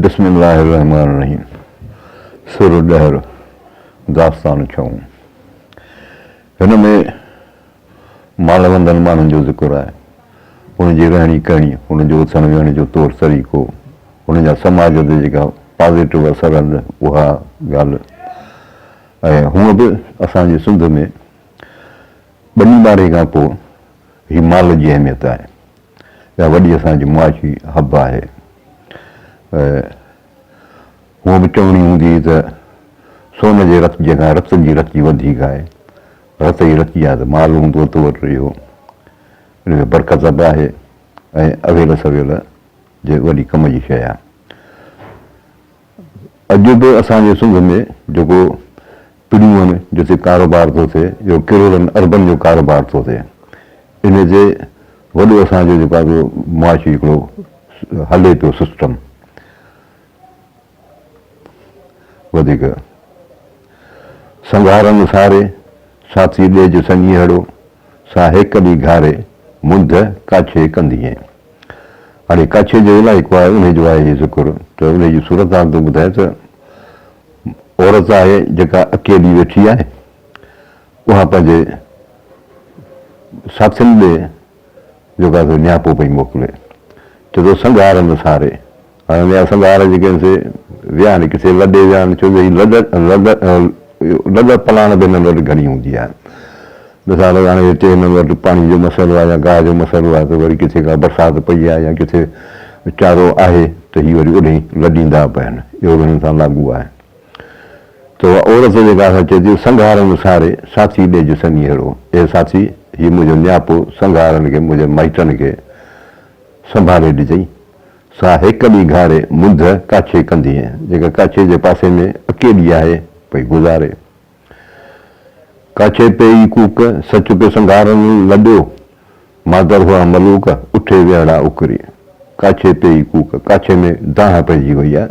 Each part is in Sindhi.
بسم الله الرحمٰن الرحيم سر ڏهر داستان ڇهون هن ۾ مالوندن ماڻهن جو ذڪر آهي ان جي رهڻي ڪهڻي ان جو اٿڻ ويهڻ جو طور طريقو ان جا سماج تي جيڪا پازيٽو اثر آهن اها ڳالهه ۽ هونء به اسان جي سنڌ ۾ ٻني ٻاري کان پوء هي مال جي اهميت آهي اها وڏي اسان جي معاشي حب آهي. هونء به چوڻي هوندي هئي ته سون جي رتجي کان رتن جي رتجي وڌيڪ آهي. رت ئي رتجي آهي ته مال هوندو تو وٽ اهو ان ۾ برڪت به آهي ۽ اويل سويل جي وڏي ڪم جي شيء آهي. اڄ به اسان جي سنڌ ۾ جيڪو پڙيون جتي ڪاروبار ٿو ٿئي اهو ڪروڙن اربن جو ڪاروبار ٿو ٿئي ان تي وڏو اسان جو جيڪو آهي معاشي هڪڙو هلي پيو سسٽم وڌيڪ سنگهارن ساري ساٿي ڏيج سڃيهڙو سا هيڪ ڏي گهاري منڌ ڪاڇي ڪندينء. اڙي ڪاڇي جو علائقو آهي انهي جو آهي ذڪر ته انهي جي صورتحال ٿو ٻڌائي ته عورت آهي جيڪا اڪيلي ويٺي آهي اها پنهنجي ساٿين ڏي جيڪا سو نياپو پئي موڪلي چي ٿو سنگهار نه ساري هاڻي نياز سنگهار جي ڪنهن سي ويا آهن، ڪسي لڏي ويا آهن، ڇو جو هي لڏ لڏ لڏ پلاڻ به هنن وٽ گهڻي هوندي آهي. مثال هاڻي هتي هنن وٽ پاڻي جو مسئلو آهي يا گاهه جو مسئلو آهي ته وري ڪٿي ڪا برسات پئي آهي يا ڪٿي چارو آهي ته هي وري اوڏهين لڏيندا به آهن. اهو به هنن سان لاڳو آهي. ته اها عورت جيڪا اسان چئي ٿي سنگهارن ساري ساٿي ڏيج سنيهڙو، اي ساٿي! هي منهنجو نياپو سنگهارن کي منهنجي مائٽن کي سنڀالي ڏجئي. سا هيڪل ئي گهاري منڌ ڪاڇي ڪندينء، جيڪا ڪاڇي جي پاسي ۾ اڪيلي آهي، پئي گذاري. ڪاڇي پئي ئي ڪوڪ، سچ پئي سنگهارن لڏيو، مادر هئا ملوڪ، اٺي ويهڙا اڪري. ڪاڇي پئي ئي ڪوڪ، ڪاڇي ۾ دانهن پئجي وئي آ،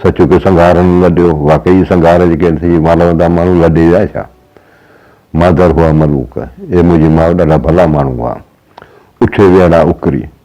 سچ پئي سنگهارن لڏيو، واقعي سنگهار جيڪي آهن سي اهي مالوندا ماڻهو لڏي ويا ڇا؟ مادر هئا ملوڪ، اي منهنجي ماء ڏاڍا ڀلا ماڻهو هئا، اٺي ويهڙا اڪري،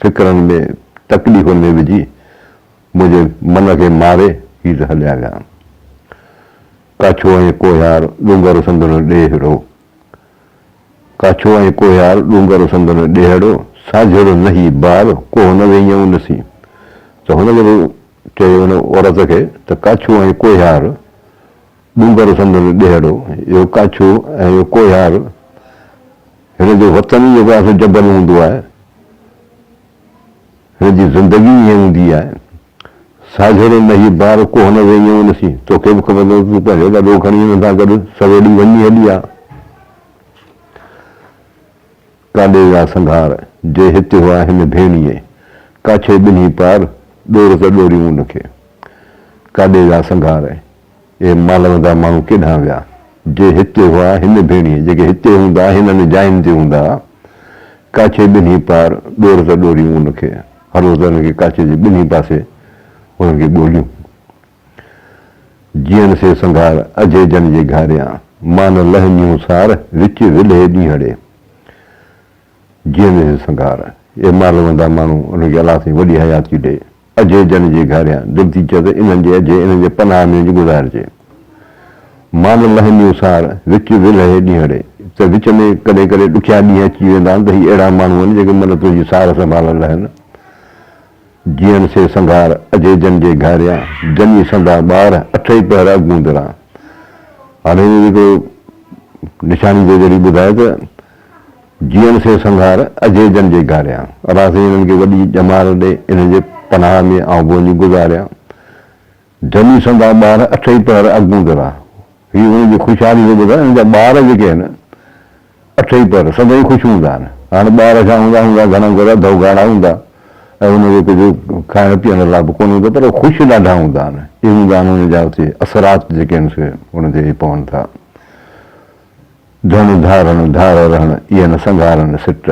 فڪرن ۾، تڪليفن ۾ وجهي، منهنجي من کي ماري هي ته هليا ويا. ڪاڇو ۽ ڪوهيار ڏونگر سندن ڏيهڙو. ڪاڇو ۽ ڪوهيار ڏونگر سندن ڏيهڙو، ساجهڙو نه هي بار، ڪوهه نه ويهيائون نسي. ته هن جڏهن چيو ان عورت کي ته ڪاڇو ۽ ڪوهيار. ڏونگر سندن ڏيهڙو، اهو ڪاڇو ۽ اهو ڪوهيار، هن جو وطن ئي جيڪو آهي سو جبل هوندو آهي. هن جي زندگي ئي ائين هوندي آهي. ساجهڙي نهي بار ڪوهن ويهين ان سين، توکي به خبر نه تون پنهنجو ڏڏو کڻي هن سان گڏ سويڙي وڃي هلي آ. ڪاڏي ويا سنگهار، جي هت هئا هن ڀيڻيء، ڪاڇي ٻنهي پار، ڏور ته ڏوريون ان کي. ڪاڏي ويا سنگهار. اهي مالوندا ماڻهو ڪيڏانهن ويا، جي هتي هئا، هن ڀيڻيء، جيڪي هتي هوندا، هنن جاين تي هوندا، ڪاڇي ٻنهي پار ڏور ته ڏوريون ان کي، هر روز ان کي ڪاڇي جي ٻنهي پاسي هنن کي ڳوليون. جيئن سي سنگهار اجهي جن جي گهاريان، مان نه لهه نيون سار، وچ ولهي ڏينهڙي. جيئن سي سنگهار، اهي مالوندا ماڻهو ان کي الاسين وڏي حياتي ڏئي، اجهي ڄڻ جي گهاريان، دل ٿي چئي ته انهن جي اجهي، انهن جي پناهه ۾ اچ گذارجي. مان لهنديون سار، وچ ولهي ڏينهڙي، ته وچ ۾ ڪڏهن ڪڏهن ڏکيا ڏينهن اچي ويندا آهن ته هي اهڙا ماڻهو آهن جيڪي من تنهنجي سار سنڀالڻ لهن. جيئن سي سنگهار، اجهي ڄڻ جي گهاريان، جني سندا ٻار، اٺئي پهر اڳوندران. هاڻي هڪڙو نشاني جي ذريعي ٻڌاء ته. جيئڻ سي سنگھار اجھي جن جي گھاريان. رازين انھن کي وڏي ڄمار ڏي انھن جي پناھ ۾ آئون ڀونڄي گذاريان. جني سندان ٻار اٺ ئي پهر اڳون درا. هي انھن جي خوشحالي جو ٻڌا انھن جا ٻار جيڪي آهن اٺ ئي پهر سندان ئي خوش هوندا آهن. هاڻ ٻار ڇا هوندا هوندا گھڻا ڪري اڌ اوگاڙا هوندا ۽ انھن کي ڪجهه کائڻ پيئڻ لاء به ڪونه هوندو پر هو خوش ڏاڍا هوندا آهن. اهي هوندا آهن انھن جا اٿي اثرات جيڪي آهن سي انھن تي پون ٿا. ڌڻ ڌارڻ ڌار رهڻ ايئن نه سنگهارڻ سٽ.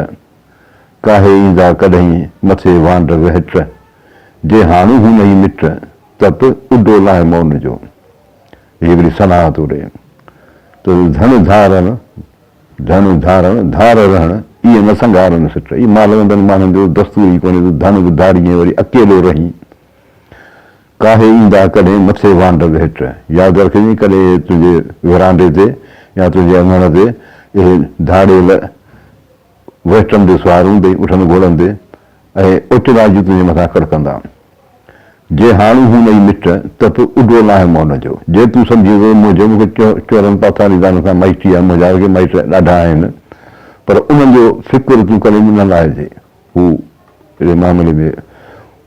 ڪاهي ايندا ڪڏهين مٿي وانڊ وهٽ. جي هاڻي هو نئين مٽ ته پ اڏو لاهه مون جو. هي وڙي ثنا توڙي ته ڌڻ ڌارڻ ڌڻ ڌارڻ ڌار رهڻ ايئن نه سنگهارڻ سٽ. اهي مالوندن ماڻهن جو دستور ئي ڪونهي ته ڌڻ به ڌارينء وري اڪيلو رهين. ڪاهي ايندا ڪڏهن مٿي وانڊل هيٺ. ياد رکجين ڪڏهن اهي تنهنجي ورانڊي تي يا تنهنجي اڱڻ تي اهي ڌاڙيل وهٽن تي سوار هوندي اٺن گهڙندي ۽ اوچن آجي تنهنجي مٿان ڪڙڪندا. جي هاڻ هو نه ئي مٽ ته پوء اڏو ناهي مئل جو. جي تون سمجهين ٿو ته منهنجو مون کي چورن پاٿاريندارن سان مائٽي آهي منهنجا اڳي مائٽ ڏاڍا آهن پر انهن جو فڪر تون ڪڏهن به نه لاهجي. هو اهڙي معاملي ۾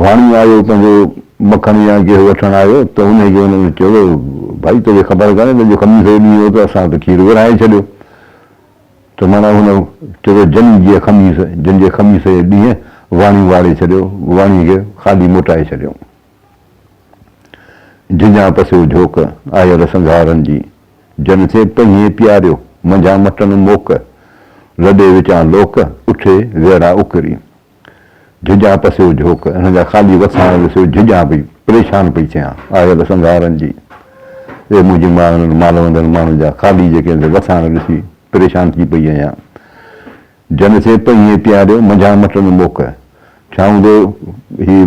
واڻي آيو تنهنجو مکڻ يا گيهه وٺڻ آيو ته انهي کي هن چيو ته ڀائي توکي خبر ڪانهي ته اڄ خميس جو ڏينهن هو ته اسان ته کير ورهائي ڇڏيو ته معنيٰ هن چيو ته جني جي خميس جن جي خميس جي ڏينهن واڻي واڙي ڇڏيو واڻي کي خالي موٽائي ڇڏيو جنجهان پسيو جهوڪ آيل سنگهارن جي جن کي پهيئين پياريو منجهان مٽن موڪ لڏي وچان لوڪ اٺي ويڙها اڪري. جھڄان پسيو جھوڪ انھن جا خالي وساڻ وسيو جھڄان پئي پريشان پئي ٿيان آيل سنگھارن جي اي منھنجي ماء انھن مالوندن ماڻھن جا خالي جيڪي وساڻ وسي پريشان ٿي پئي آھيان جن سين پنھيئي پياريو منجھان مٽن موڪ ڇا ھوندو ھي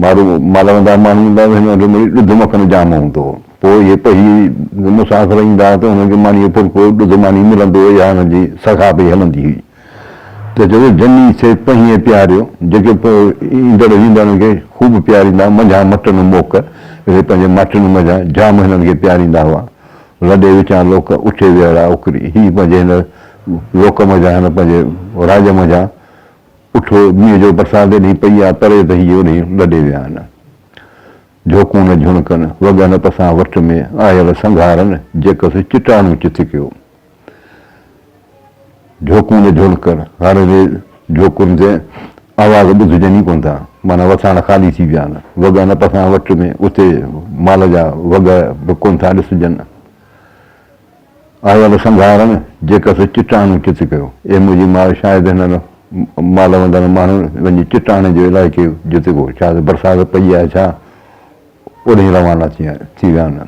مارو مالوندا ماڻھن ھوندا ھئا ھن جو مڙي ڏڌ مکڻ جام ھوندو ھو پوء اھي پنھيئي مسافر ايندا ھئا ته انھن کي مانيء جو ڦلڪو ڏڌ ماني ملندو ھو اھا انھن جي سگھا پئي ھلندي ھئي. ته چوي، جني سي پهيئي پياريو، جيڪي پوء ايندڙ ويندڙن کي خوب پياريندا، منجهان مٽن موڪ، اهي پنهنجي ماٽن منجهان جام هنن کي پياريندا هئا، لڏي وچان لوڪ، اٺي ويهڙا اوڪري، هي پنهنجي هن لوڪ منجهان، هن پنهنجي راڄ منجهان اٺو، مينهن جو برسات ايڏي پئي آ، پري ته هي هونئن لڏي ويا آهن، جهوڪون نه جهڻڪن، وڳهن پسان وٺ ۾، آيل سنگهارن، جيڪس چٽاڻو چٿ ڪيو. جھوڪون جا جھولڪڙ ھاري جي جھوڪن تي آواز ٻڌجن ئي ڪون ٿا، معنيٰ وٿاڻ خالي ٿي ويا آھن. وڳا نه پسان وٽ ۾ اتي مال جا وڳا به ڪون ٿا ڏسجن. آيل سنگھارن جيڪس چٽاڻون چت ڪيو. اي منھنجي ماء شايد ھنن مال وندڙ ماڻھن وڃي چٽاڻي جو علائقي جت ڪو شايد برسات پئي آھي ڇا اوڏھين روانا ٿي ويا آھن.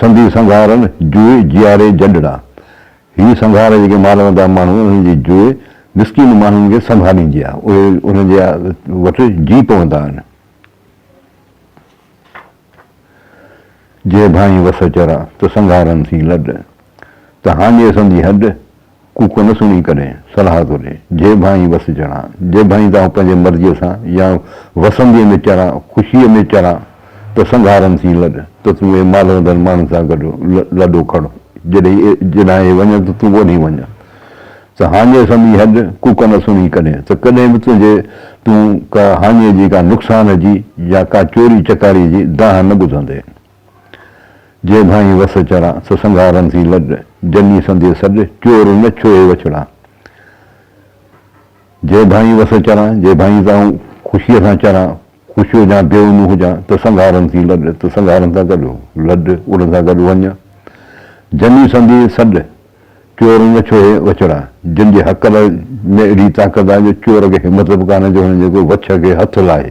سنڌي سنگهارن جوئي جياري جنڊڙا. هي سنگهار جيڪي مارندا ماڻهو انهن جي جوئي مسڪين ماڻهن کي سنڀاليندي آهي. اهي انهن جي وٽ جي پوندا آهن. جي ڀانئي وس چرا ته سنگهارن سين لڏ. ته هاڃي سندي هڏ. ڪوڪو نه سڻي ڪڏهن صلاح ٿو ڏي، جي ڀانئين وس چڙهان، جي ڀانئين تان پنهنجي مرضيء سان يا وسنديء ۾ چڙهان، خوشيء ۾ چڙهان ته سنگهارن سين لڏ ته تون اي مالهوندڙ ماڻهن سان گڏ لڏو کڙ، جڏهن اي وڃن ته تون اوڏهين وڃ ته هاڃي سمي هڏ، ڪوڪو نه سڻي ڪڏهن ته ڪڏهن به تنهنجي تون ڪا هاڃي جي، ڪا نقصان جي يا ڪا چوري چڪاريء جي دانهن نه ٻڌندين. جي ڀانئي وس چڙهان، سو سنگهارن سين لڏ، جني سندي سڏ، چور نه ڇهي وڇڙان. جي ڀانئي وس چڙهان، جي ڀانئي ته آئون خوشيء سان چران، خوش هجان، بي اونو هجان، ته سنگهارن سين لڏ، ته سنگهارن سان گڏ لڏ، انهن سان گڏ وڃ. جني سندي سڏ، چور نه ڇهي وڇڙان، جن جي هڪل ۾ ايڏي طاقت آهي جو چور کي همٿ به ڪانهي جو هن جي ڪو وڇ کي هٿ لاهي.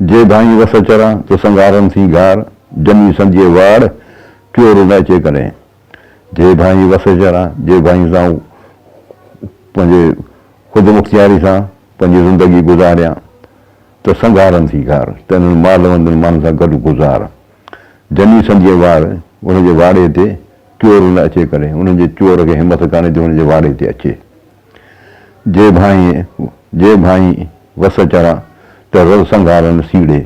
جي ڀائين وس چرا، تو سنگارن ٿي گار، جني سنديء واڙ، ڪيو رون اچي ڪڏهن. جي ڀائين وس چرا، جي ڀائين سان پنهنجي خود مختياري سان پنهنجي زندگي گذاريان، ته سنگارن ٿي گار، ته انهن مالوندن ماڻهن سان گڏ گذار. جني سنديء واڙ، ان جي واڙي تي، ڪيو رون اچي ڪڏهن، انهن جي چور کي همٿ ڪانهي جو هن جي واڙي تي اچي. جي ڀانئي جي ڀانئي وس چرا ته رل سنگهار نه سيڙي.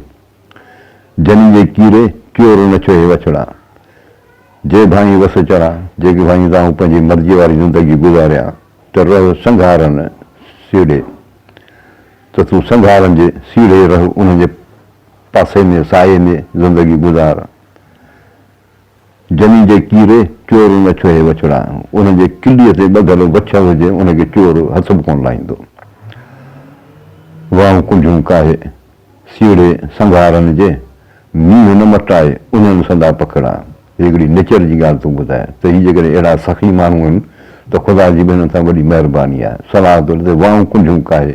جني جي ڪيري ڪيور نه ڇهي وڇڙا. جي ڀانئي وس چرا جي ڀانئي دانهون پنهنجي مرضيء واري زندگي گذاريا ته رل سنگهار نه سيڙي ته تون سنگهارن جي سيڙهي رهه انهن جي پاسي ۾ سايي ۾ زندگي گذار. جني جي ڪيري چور نه ڇهي وڇڙا، ان جي ڪليء تي ٻڌل وڇ هجي، ان کي چور هٿ به ڪونه لائيندو. واهون ڪنجهون ڪاهي، سيڙهي سنگهارن جي، مينهن نه مٽائي، انهن سندا پکڙا. هي هڪڙي نچر جي ڳالهه ٿو ٻڌائي ته هي جيڪڏهن اهڙا سخي ماڻهو آهن ته خدا جي به هنن سان وڏي مهرباني آهي. صلاح ٿو ڏي ته واهون ڪنجهون ڪاهي.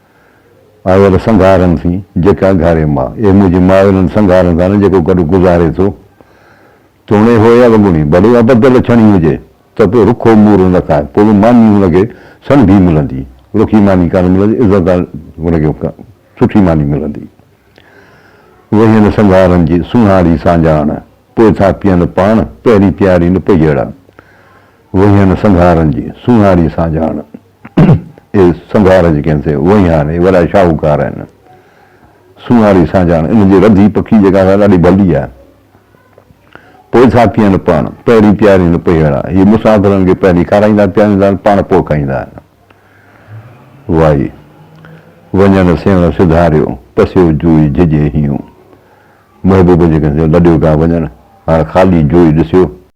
آيل سنگهارن ٿي جيڪ اگهاري ماء. اي منهنجي ماء انهن سنگهارن سان نه جيڪو گڏ گذاري ٿو. توڻي هو يا وڳوڻي ڀلي ابدل اڇڻي هجي ته به رکو مورو نه کائي پوء به ماني هن کي سڻڀي ملندي. رکي ماني ڪانه ملندي عزت سان هن کي سٺي ماني ملندي. وهين سنگهارن جي سونهاري سانجاڻ پوء ٿا پيئن پاڻ پهرين پياري نه پئي اڙان. وهيان سنگهارن جي سونهاري سانجهاڻ اي سنگهار جيڪي هن تي وهيان اي وڏا شاهوڪار هن سونهاري سانجهاڻ ان جي رڌي پکي جيڪا سا ڏاڍي ڀلي آهي پوء ٿا ڪين پاڻ پهرين پيارين پهيڙا هي مسافرن کي پهرين کارائيندا پياريندا آهن پاڻ پوء کائيندا آهن وائي وڃڻ سيوڻ سڌاريو پسيو جوئي جهڄي هيون محبوب جيڪي هن تي لڏيو پيا وڃن هاڻ خالي جوئي ڏسيو